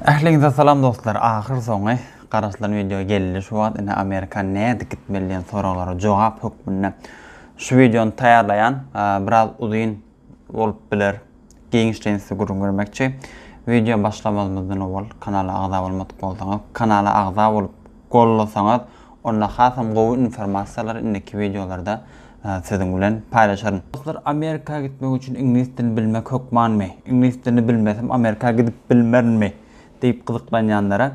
Ähliňize salam dostlar ahyr soňy garaşylan wideo geldi şu wagt ine Amerika nädip gitmeli diýen soraglara jogap hökmünde şu wideony taýýarlaýan biraz uzyn bolup biler giňişleýin size gürrüň bermekçi wideo başlamazymyzdan owal kanala agza bolmadyk bolsaňyz kanala agza bolup gollasaňyz onda hasam gowy informasiýalary indiki wideolarda siziň bilen paýlaşaryn. Dostlar Amerika gitmek üçin iňlis dilini bilmek hökmanmy? Iňlis dilini bilmesem Amerika gidip bilmerinmi? diýip gyzyklanýanlara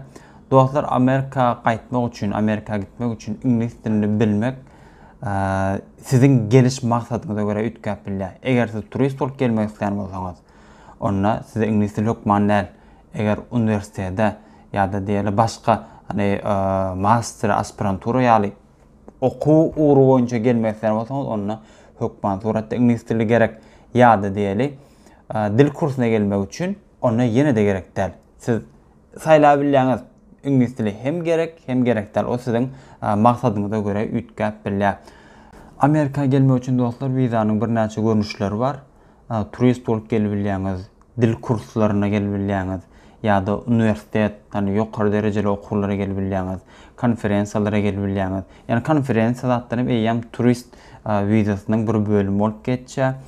Dostlar Amerika gaýtmak üçin Amerika gitmek üçin iňlis dilini bilmek siziň geliş maksadyňyza görä üýtgäp bilýär. Eger siz turist bolup gelmek isleýän bolsaňyz onda size iňlis dili hökman däl, eger uniwersitete ýa-da diýeli başga hani master, aspirantura ýaly okuw ugry boýunça gelmek isleýän bolsaňyz, onda hökman suratda iňlis dili gerek ýa-da diýeli dil kursuna gelmek üçin onda ýene-de gerek däl. Siz saýlap bilýäňiz, iňlis dili hem gerek, hem gerek däl, o siziň maksadyňyza görä üýtgäp bilýär. Amerika gelmek üçin dostlar wizanyň birnäçe görnüşleri bar. turist bolup gelibilýäňiz, dil kurslaryna gelibilýäňiz ýa-da uniwersitet, ýagny ýokary derejeli okuwlara gelibilýäňiz, konferensiýalara gelibilýäňiz. Ýagny konferensiýa zatlaram eýýäm turist wizasynyň bir bölümi bolup geçýär.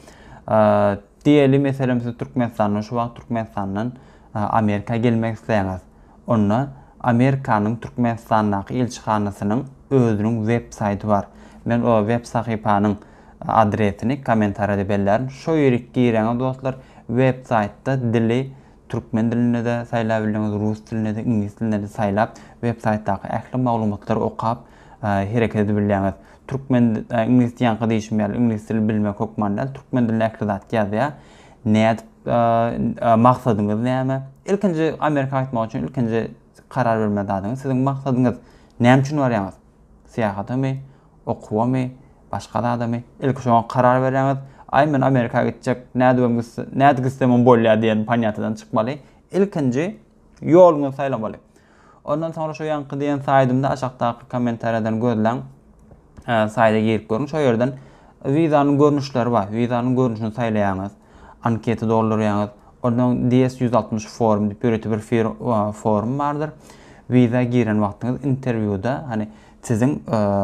Diýeli, meselem, siz Türkmenistandan şu wagt Türkmenistandan Amerika gelmek isleýäňiz. Onda Amerikanyň Türkmenistandaky ilçihanasynyň özüniň web saýty bar. Men o web sahypanyň Adresini komentarýada bellärin. Şo ýerik giräňiz dostlar, web saýtda dili türkmen dilinde-de saýlap bildiňiz, rus dilinde-de, iňlis dilinde-de saýlap, web saýtdaky ähli maglumatlary okap hereket edip bilýäňiz. Türkmen iňlis ýaňky diýşim ýaly iňlis dili bilmek hökman däl, türkmen dilinde ähli zat ýazýar. Nädip maksadyňyz näme? Ilkinji Amerika gaýtmak üçin ilkinji karar bermeli zadyňyz siziň maksadyňyz. Näme üçin barýaňyz? Syýahatamy, okuwamy, başga zadamy, ilki şoňa karar berýäňiz. Aý, men Amerika gitjek, nädibem gitse, nädip gitsemem bolýar diýen ponýatiýadan çykmaly. Ilkinji ýoluňyzy saýlamaly. Ondan soňra şu ýaňky diýen saýdymda aşakdaky kommentariýadan gözläň. Saýda girip görüň, şo ýerden wizanyň görnüşleri bar. Wizanyň görnüşini saýlaýaňyz. Anketa doldurýaňyz. Onsoň DS ýüz altmyş forum diýip ýörite bir forum bardyr. Wiza giren wagtyňyz interwýuda hany siziň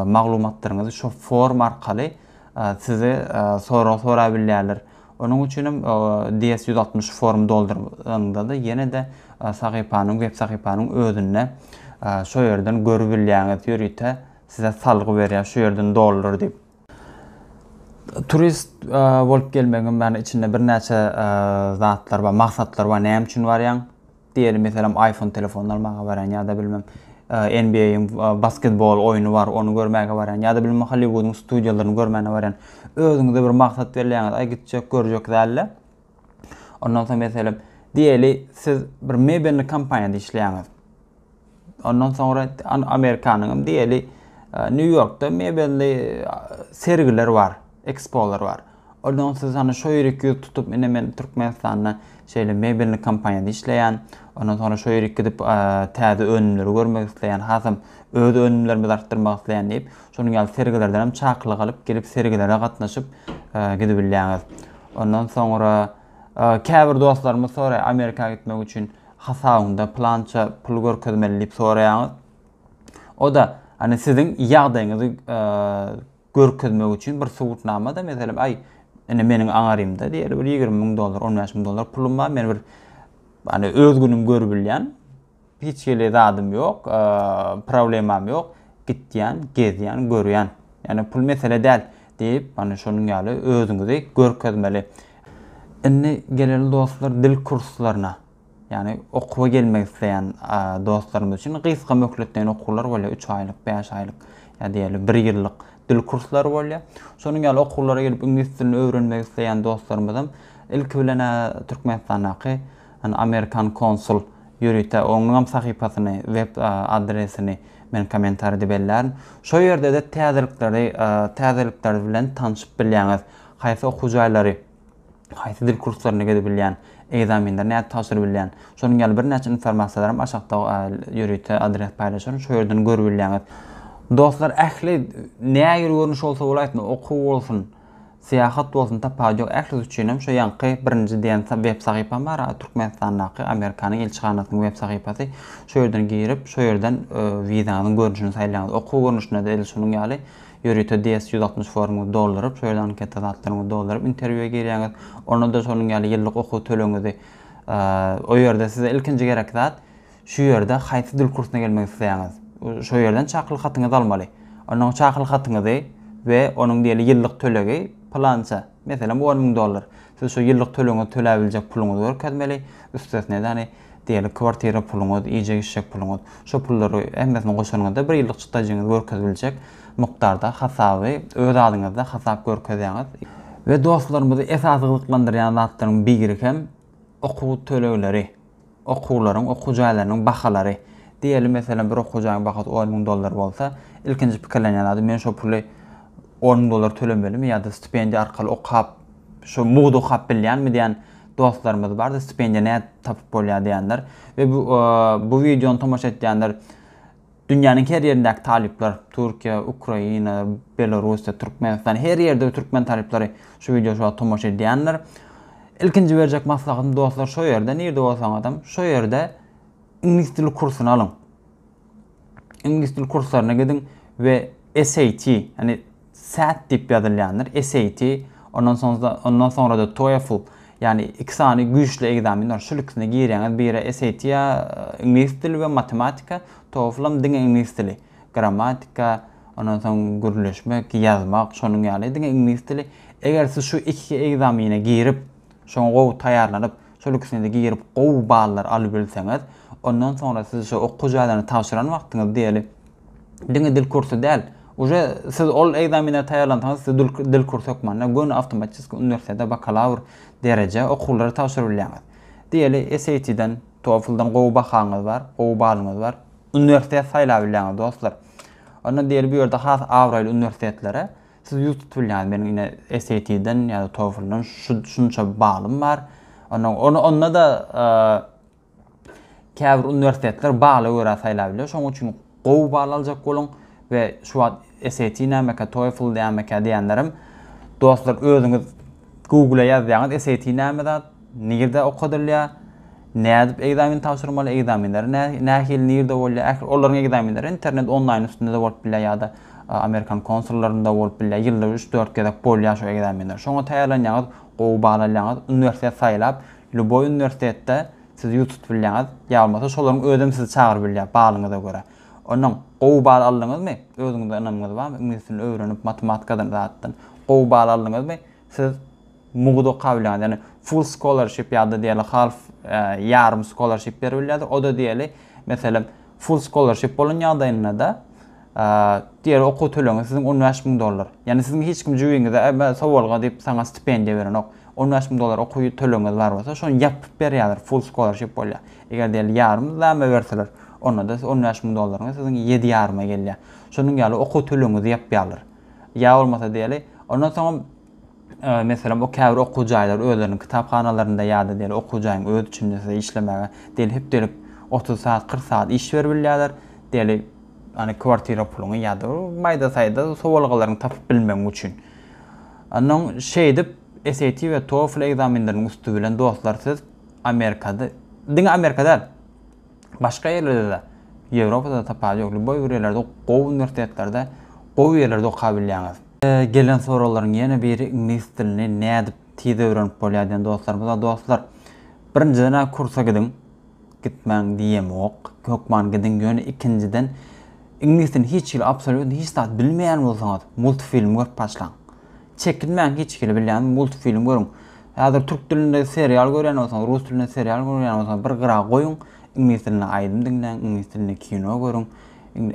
maglumatlaryňyzy şo forum arkaly size sorag sorap bilýärler. Onuň üçin hem DS ýüz altmyş forum dolduranyňyzda ýene-de sahypanyň web sahypanyň özünde şo ýerden görüp bilýäňiz ýörite size salgy berýär şo ýerden doldur diýip. Turist bolup gelmegiň many içinde birnäçe zatlar bar, maksatlar bar. Näme üçin barýaň? Diýeli, meselem, iPhone telefonyny almaga barýan ýa-da bilmem NBA-iň basketbol oýny bar, ony görmäge barýan ýa-da bilmem Hollywood-yň studiýalaryny görmäne barýan. Özüňize bir maksat belleýäňiz, aý gitjek, görjek dälde. Ondan soň meselem, diýeli, siz bir mebelli kompaniýada işleýäňiz. Ondan soňra Amerikanyň hem diýeli Nýu-Ýorkda mebelli sergiler bar, ekspolar bar. Ondan siz hany şo ýeri ýüz tutup, ine men Türkmenistanda şeýle mebelli kompaniýada işleýän, ondan soňra şo ýeri gidip täze önümleri görmek isleýän, hasam öz önümlerimizi artdyrmak isleýän diýip, şonuň ýaly sergilerden hem çakylyk alyp gelip sergilere gatnaşyp gidibilýäňiz. Ondan soňra Käbir dostlarymyz soraýar, Amerika gitmek üçin hasabyňda plança pul görkezmeli diýip soraýaňyz. O-da, hani siziň ýagdaýyňyzy görkezmek üçin bir subutnama-da, meselem, aý, ine meniň aňarymda diýeli bir ýigrimi müň dollar, on bäş müň dollar pulum bar, men bir hani öz günüm görüp bilýän, Hiç hili zadym ýok, problemam ýok. Gitýän, gezýän, görýän. Ýagny pul mesele däl diýip, mana şonuň ýaly özüňizi görkezmeli. Indi geleli dostlar dil kurslaryna. Ýagny okuwa gelmek isleýän dostlarymyz üçin gysga möhletleýin okuwlar bolýar, üç aýlyk, bäş aýlyk ýa diýeli bir ýyllyk dil kurslary bolýar. Şonuň ýaly okuwlara gelip iňlis dilini öwrenmek isleýän dostlarymyzam ilki bilen-ä Türkmenistandaky Hany amerikan konsul ýörite onuňam sahypasyny web adresini men komentaride bellärin. Şo ýerdede täzelikleri täzelikler bilen tanşyp bilýäňiz. Haýsy okuw jaýlary, haýsy dil kurslaryny gezip bilýän, egzaminleri nädip tabşyryp bilýän. Şonuň ýaly birnäçe informasiýalaram aşakda ýörite adres paýlaşaryn şo ýerden görüp bilýäňiz. Dostlar ähli nähili görnüş bolsa bolaýsyn okuw bolsun. Syýahat bolsun tapawudy ýok ählis üçinem şu ýaňky birinji diýen web sahypam bar Türkmenistandaky Amerikanyň ilçihanasynyň web sahypasy şo ýerden girip şo ýerden wizanyň görnüşini saýlaýaňyz okuw görnüşinde-de edil şunuň ýaly ýörite DS ýüz altmyş formuňyzy dolduryp şo ýerde anketa zatlaryňyzy dolduryp interwýua girýäňiz onda-da şonuň ýaly ýyllyk okuw tölegiňizi o ýerde size ilkinji gerek zat Şu ýerde haýsy dil kursyna gelmek isleýäňiz? Şo ýerden çakylyk hatyňyzy almaly. Onnoň çakylyk hatyňyzy we onuň diýeli ýyllyk tölegi pylança, meselem, on müň dollar. Siz şo ýyllyk tölegiňizi tölä biljek puluňyzy görkezmeli, üstesine däni, diýeli, kwartira puluňyz, iýjek-içjek puluňyz. Şo pullary hemmesini goşanyňyzda bir ýyllyk çykdajyňyzy görkezip biljek mukdarda hasaby öz adyňyzda hasap görkezýäňiz. We dostlarymyzy esasy gyzyklandyrýan zatlaryň biri hem okuw tölegleri. Okuwlaryň, okuw jaýlarynyň bahalary. Diýeli, meselem, bir okuw jaýyň bahasy on müň dollar bolsa, ilkinji pikirlenýän adam, men şo puly on müň dollar tölemelimi ýa-da stipendiýa arkaly okap, şo mugt okap bilýänmi diýen dostlarymyz bardyr, stipendiýa nädip tapyp bolýar diýenler we bu wideony tomaşa etýänler Dünýäniň her ýerindäki talyplar, Türkiýe, Ukraina, Belorussiýa, Türkmenistan, her ýerde türkmen talyplary şu wideoşowa tomaşa edýändir. Ilkinji berjek maslahatym dostlar şo ýerde, nirde bolsaňyzam, şo ýerde iňlis dili kursuny alyň. Iňlis dili kurslaryna gidiň we SAT, ýani Sat diýip ýazylýandyr, SAT, ondan soň-da, ondan soňra-da TOEFL, ýagny iki sany güýçli ekzamen bar, şol ikisine girýäňiz, biri SAT ýa iňlis dili we matematika, TOEFL-am diňe iňlis dili, grammatika, ondan soň gürleşmek, ýazmak, şonuň ýaly, diňe iňlis dili. Eger siz şu iki ekzamene girip, şoňa gowy taýýarlanyp, şol ikisine-de girip gowy ballary alybilseňiz, ondan soňra siz şu okuw jaýlaryny tabşyran wagtyňyz diýeli, Diňe dil kursy däl. Uje siz ol ekzamene taýýarlansaňyz siz dil kursy hökmanda göni awtomatiski uniwersitete bakalawr dereje okuwlary tabşyrybilýäňiz. Diýeli SAT-den, TOEFL-dan gowy bahaňyz bar, gowy balyňyz bar. Uniwersitet saýlabilýäňiz dostlar. Onda diýeli bu ýerde has abraýly uniwersitetlere siz ýüz tutup bilýäňiz. Meniň ine SAT-den ýa-da TOEFL-dan şunça balym bar. Onda onda da Käbir uniwersitetler bala görä saýlap biler, şonuň üçin gowy bal aljak boluň we şu wagt SAT nämekä, TOEFL nämekä diýenlerem dostlar özüňiz Google-a ýazýaňyz SAT näme zat, nirde okadylýar, nädip ekzamen tabşyrmaly, ekzamenleri nähili, nirde bolýar, ähli olaryň ekzamenleri internet onlaýn üstünde-de bolup bilýär ýa-da amerikan konsullarynda bolup bilýär, ýylda üç-dört gezek bolýar şu ekzamenler. Şoňa taýýarlanýaňyz, gowy bal alýaňyz, uniwersitet saýlap, Lýuboý uniwersitetde siz ýurt tutup bilýäňiz, ýa bolmasa şolaryň özem sizi çagyryp bilýär, balyňyza görä. Onnoň, gowy bal aldyňyzmy, özüňize ynamyňyz barmy, iňlis dilini öwrenip, matematikadan, zatdan gowy bal aldyňyzmy, siz mugt okap bilýäňiz. Ýagny full scholarship ýa-da diýeli half, ýarym scholarship berip bilýärler. O-da diýeli, meselem, full scholarship bolan ýagdaýynda-da, Diýer, Okuw tölegi siziň on bäş müň dollar. Ýagny siziň hiç kim jübiňize, Äbe, sowalga diýip saňa stipendiýa berenok. On bäş müň dollar okuw tölegiňiz bar bolsa, şony ýapyp berýärler, full scholarship bolýar. Eger diýeli ýarym zäme berseler, onda-da siz on bäş müň dollaryňyz siziň ýedi ýaryma gelýär. Şonuň ýaly okuw tölegiňizi ýapýarlar. Ýa bolmasa diýeli, ondan soňam Meselem, o käbir okuw jaýlary özleriniň kitaphanalarynda ýa-da diýeli okuw jaýyň özi içinde size işlemäge diýeli hepdelik otuz sagat, kyrk sagat iş berip bilýärler. Diýeli, ony kwartira puluňy ýa-da maýda-saýda sowalgalaryňy tapyp bilmegiň üçin. Onda şeýdip SAT we TOEFL ekzamenleriniň üsti bilen dostlar siz Amerikada, diňe Amerika däl, Başga ýerlerdede Ýewropada tapawudy ýok. Lýuboý bir ýerlerde gowy uniwersitetlerde gowy ýerlerde okabilýäňiz. Gelen soraglaryň ýene biri iňlis dilini nädip tiz öwrenip bolýar diýen dostlarymyza dostlar birinjidenä kursa gidiň gitmäň diýemok hökman gidiň ýöne ikinjiden iňlis dilini hiç hili absolýutno hiç zat bilmeýän bolsaňyz multfilm görüp başlaň Çekinmäň hiç hili bilýän multfilm görüň. Häzir türk dilinde serial görýän bolsaňyz, rus dilinde serial görýän bolsaňyz bir gyra goýuň, iňlis dilinde aýdym diňläň, iňlis dilinde kino görüň.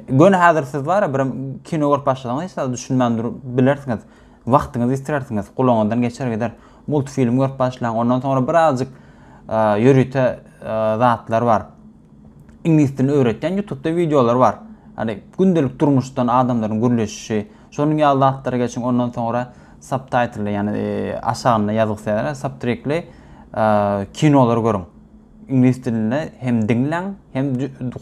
Göni häzir siz bar-a bir kino görüp başlasaňyz hiç zada düşünmän durup bilersiňiz. Wagtyňyzy ýitirersiňiz, gulagyňyzdan geçer gider. Multfilm görüp başlaň, ondan soňra birazjyk ýörite zatlar bar. Iňlis dilini öwretýän ýutubda wideolar bar. Ýagny gündelik durmuşdan adamlaryň gürleşişi, Şonuň ýaly zatlary geçiň, ondan soňra subtitle, ýagny aşagynda ýazgysyz ýazylar, subtrikli kinolary görüň. Iňlis dilinde hem diňläň, hem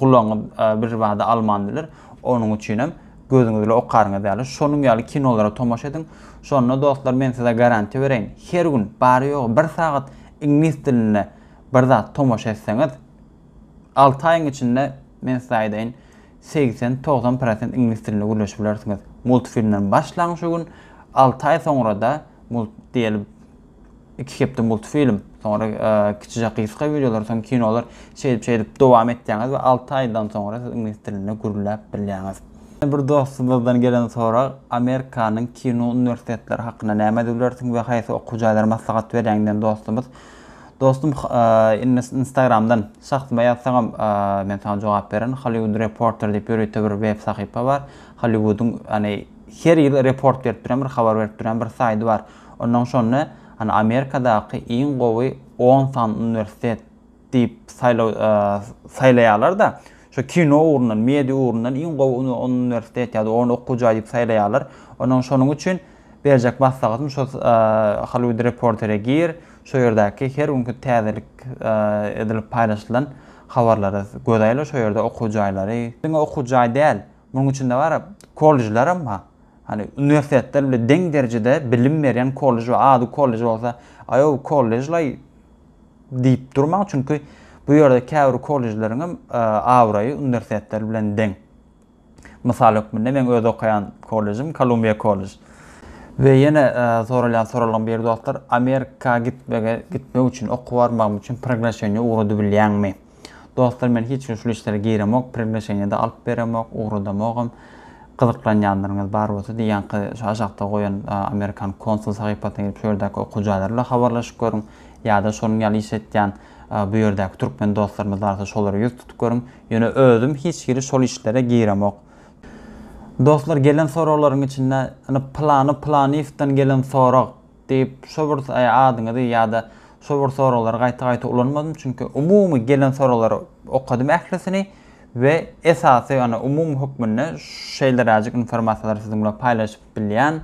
gulagyňyz birbada alman biler. Onuň üçin hem gözüňiz bilen okaryňyz ýaly, şonuň ýaly kinolara tomaşa ediň. Şonda dostlar, men size garantiýa bereýin, her gün bary-ýogy bir sagat iňlis dilinde bir zat tomaşa etseňiz, alty aýyň içinde, men size aýdaýyn, segsen, togsan prosent iňlis dilinde gürleşip bilersiňiz. Multfilmden başlaň şu gün, alty aý soňrada mult diýeli iki hepde multfilm, soňra kiçijek gysga wideolar, soň kinolar şeýdip şeýdip dowam etýäňiz we alty aýdan soňra siz iňlis dilinde gürläp bilýäňiz. Bir dostumyzdan gelen sorag, Amerikanyň kino uniwersitetleri hakynda näme diýip bilersiň we haýsy okuw jaýlary maslahat berýäň diýen dostumyz. Dostum instagramdan şahsyma ýazsaňam men saňa jogap bererin Hollywood Reporter diýip ýörite bir web sahypa bar Hollywoodyň ýagny her ýyl report berip duran bir habar berip duran bir saýdy bar onnoň şonda ýagny Amerikadaky iň gowy on sany uniwersitet diýip saýlaw saýlaýarlar-da şo kino ugrundan media ugrundan iň gowy uniwersitet ýa-da on okuw jaý diýip saýlaýarlar onnoň şonuň üçin Berjek maslahatym şo Hollywood Reporter-e gir, şo ýerdäki her günki täzelik edilip paýlaşylan habarlara göz aýla, şo ýerde okuw jaýlary, diňe okuw jaý däl, munuň içinde bar kollejleram bar, hany uniwersitetler bilen deň derejede bilim berýän kollej bar, ady kollej bolsa, aýow kollejlaý diýip durmaň, çünki bu ýerde käbir kollejleriňem abraýy uniwersitetler bilen deň. Mysal hökmünde, meň öz okaýan kollejim Columbia College. We ýene soralýan soraglaryň biri dostlar, Amerika gitmege gitmek üçin, okuwa barmagym üçin proglaşeniýe ugradybilýäňmi? Dostlar, men hiç gün şul işlere giremok, proglaşeniýe-de alyp beremok, ugradamogam. Gyzyklanýanlaryňyz bar bolsa-da, ýaňky şu aşakda goýan amerikan konsul sahypasyna girip, şu ýerdäki okuw jaýlary bilen habarlaşyp görüň. Ýa-da şonuň ýaly iş etýän Bu ýerdäki türkmen dostlarymyz barsa şolara ýüz tutup görüň. Ýöne özüm hiç hili şol işlere giremok. Dostlar gelen soraglaryň içinde ynha pylany pylanyýewden gelen sorag diýip şo bir adyňyzy ýa-da şo bir soraglary gaýta-gaýta ulanmadym. Çünki umumy gelen soraglary okadym ählisini we esasy ynha umumy hökmünde şeýleräjik informasiýalary siziň bilen paýlaşyp bilýän.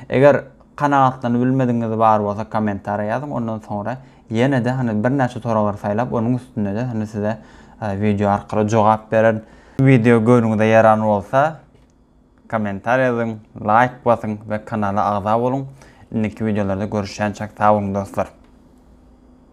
Eger kanagatlanybilmedigiňiz bar bolsa kommentariýa ýazyň ondan soňra Ýene-de hany birnäçe soraglary saýlap, onuň üstünde-de hany size wideo arkaly jogap beren. Wideo göwnüňize ýaran bolsa, kommentariý ýazyň, laýk basyň we kanala agza boluň. Indiki wideolarda görüşýänçäk sag boluň dostlar.